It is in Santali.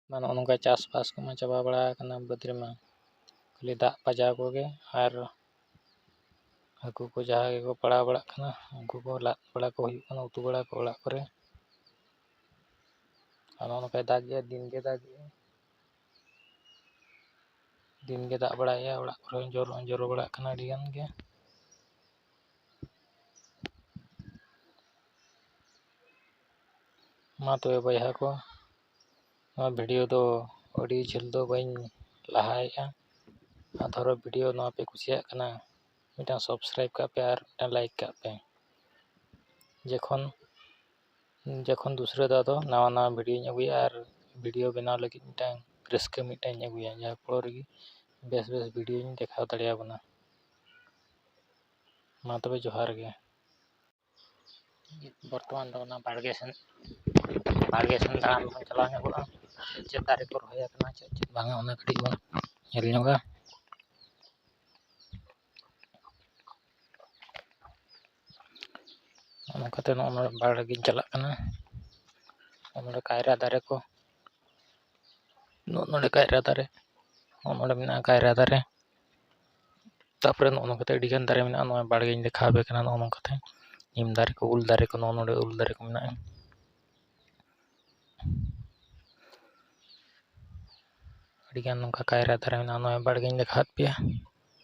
ᱢᱟ ᱱᱚᱜᱼᱚ ᱱᱚᱝᱠᱟ ᱪᱟᱥᱵᱟᱥ ᱠᱚᱢᱟ ᱪᱟᱵᱟ ᱵᱟᱲᱟ ᱟᱠᱟᱱᱟ ᱵᱟᱹᱫᱽ ᱨᱮᱢᱟ ᱠᱷᱟᱹᱞᱤ ᱫᱟᱜ ᱯᱟᱸᱡᱟᱣ ᱠᱚᱜᱮ ᱟᱨ ᱦᱟᱹᱠᱩ ᱠᱚ ᱡᱟᱦᱟᱸ ᱜᱮᱠᱚ ᱯᱟᱲᱟᱣ ᱵᱟᱲᱟᱜ ᱠᱟᱱᱟ ᱩᱱᱠᱩ ᱠᱚ ᱞᱟᱫ ᱵᱟᱲᱟ ᱠᱚ ᱦᱩᱭᱩᱜ ᱠᱟᱱᱟ ᱩᱛᱩ ᱵᱟᱲᱟ ᱠᱚ ᱚᱲᱟᱜ ᱠᱚᱨᱮ ᱟᱨ ᱱᱚᱜᱼᱚ ᱱᱚᱝᱠᱟᱭ ᱫᱟᱜᱮᱫᱼᱟ ᱫᱤᱱ ᱜᱮ ᱫᱟᱜᱮᱫᱼᱟ ᱫᱤᱱ ᱜᱮ ᱫᱟᱜ ᱵᱟᱲᱟᱭᱮᱫᱼᱟᱭ ᱚᱲᱟᱜ ᱠᱚᱨᱮ ᱦᱚᱸ ᱡᱚᱨᱚ ᱦᱚᱸ ᱡᱚᱨᱚ ᱵᱟᱲᱟᱜ ᱠᱟᱱᱟ ᱟᱹᱰᱤ ᱜᱟᱱ ᱜᱮ ᱢᱟ ᱛᱚᱵᱮ ᱵᱚᱭᱦᱟ ᱠᱚ ᱱᱚᱣᱟ ᱵᱷᱤᱰᱤᱭᱳ ᱫᱚ ᱟᱹᱰᱤ ᱡᱷᱟᱹᱞ ᱫᱚ ᱵᱟᱹᱧ ᱞᱟᱦᱟᱭᱮᱜᱼᱟ ᱟᱨ ᱫᱷᱚᱨᱚ ᱵᱷᱤᱰᱤᱭᱳ ᱱᱚᱣᱟ ᱯᱮ ᱠᱩᱥᱤᱭᱟᱜ ᱠᱟᱱᱟ ᱢᱤᱫᱴᱟᱝ ᱥᱟᱵᱥᱠᱨᱟᱭᱤᱵᱽ ᱠᱟᱜ ᱯᱮ ᱟᱨ ᱢᱤᱫᱴᱟᱝ ᱞᱟᱭᱤᱠ ᱠᱟᱜ ᱯᱮ ᱡᱚᱠᱷᱚᱱ ᱡᱚᱠᱷᱚᱱ ᱫᱩᱥᱨᱟᱹ ᱫᱷᱟᱣ ᱫᱚ ᱱᱟᱣᱟ ᱱᱟᱣᱟ ᱵᱷᱤᱰᱤᱭᱳᱧ ᱟᱹᱜᱩᱭᱟ ᱟᱨ ᱵᱷᱤᱰᱤᱭᱳ ᱵᱮᱱᱟᱣ ᱞᱟᱹᱜᱤᱫ ᱢᱤᱫᱴᱟᱝ ᱨᱟᱹᱥᱠᱟᱹ ᱢᱤᱫᱴᱟᱝ ᱤᱧ ᱟᱹᱜᱩᱭᱟ ᱡᱟᱦᱟᱸ ᱯᱷᱳᱲᱳ ᱨᱮᱜᱮ ᱵᱮᱥ ᱵᱮᱥ ᱵᱷᱤᱰᱤᱭᱳᱧ ᱫᱮᱠᱷᱟᱣ ᱫᱟᱲᱮᱭᱟᱵᱚᱱᱟ ᱢᱟ ᱛᱚᱵᱮ ᱡᱚᱦᱟᱨ ᱜᱮ ᱵᱚᱨᱛᱚᱢᱟᱱ ᱫᱚ ᱚᱱᱟ ᱵᱟᱲᱜᱮ ᱥᱮᱱ ᱵᱟᱲᱜᱮ ᱥᱮᱱ ᱫᱟᱬᱟᱱ ᱵᱚᱱ ᱪᱟᱞᱟᱣ ᱧᱚᱜᱚᱜᱼᱟ ᱪᱮᱫ ᱪᱮᱫ ᱫᱟᱨᱮ ᱠᱚ ᱨᱚᱦᱚᱭ ᱟᱠᱟᱱᱟ ᱪᱮᱫ ᱪᱮᱫ ᱵᱟᱝᱟ ᱚᱱᱟ ᱠᱟᱹᱴᱤᱡ ᱵᱚᱱ ᱧᱮᱞ ᱧᱚᱜᱟ ᱚᱱᱠᱟᱛᱮ ᱱᱚᱜᱼᱚ ᱱᱚᱣᱟ ᱵᱟᱲᱜᱮᱧ ᱪᱟᱞᱟᱜ ᱠᱟᱱᱟ ᱱᱚᱜᱼᱚ ᱱᱚᱰᱮ ᱠᱟᱭᱨᱟ ᱫᱟᱨᱮ ᱠᱚ ᱱᱚᱜᱼᱚ ᱱᱚᱰᱮ ᱠᱟᱭᱨᱟ ᱫᱟᱨᱮ ᱱᱚᱜᱼᱚ ᱱᱚᱰᱮ ᱢᱮᱱᱟᱜᱼᱟ ᱠᱟᱭᱨᱟ ᱫᱟᱨᱮ ᱛᱟᱨᱯᱚᱨᱮ ᱱᱚᱜᱼᱚ ᱱᱚᱝᱠᱟ ᱠᱟᱛᱮᱫ ᱟᱹᱰᱤᱜᱟᱱ ᱫᱟᱨᱮ ᱢᱮᱱᱟᱜᱼᱟ ᱱᱚᱜᱼᱚᱭ ᱵᱟᱲᱜᱮᱧ ᱫᱮᱠᱷᱟᱣ ᱟᱯᱮ ᱠᱟᱱᱟ ᱱᱚᱜᱼᱚ ᱱᱚᱝᱠᱟ ᱠᱟᱛᱮᱫ ᱱᱤᱢ ᱫᱟᱨᱮ ᱠᱚ ᱩᱞ ᱫᱟᱨᱮ ᱠᱚ ᱱᱚᱜᱼᱚ ᱱᱚᱰᱮ ᱩᱞ ᱫᱟᱨᱮ ᱠᱚ ᱢᱮᱱᱟᱜᱼᱟ ᱟᱹᱰᱤᱜᱟᱱ ᱱᱚᱝᱠᱟ ᱠᱟᱭᱨᱟ ᱫᱟᱨᱮ ᱢᱮᱱᱟᱜᱼᱟ ᱱᱚᱜᱼᱚᱭ ᱵᱟᱲᱜᱮᱧ ᱫᱮᱠᱷᱟᱣᱟᱫ ᱯᱮᱭᱟ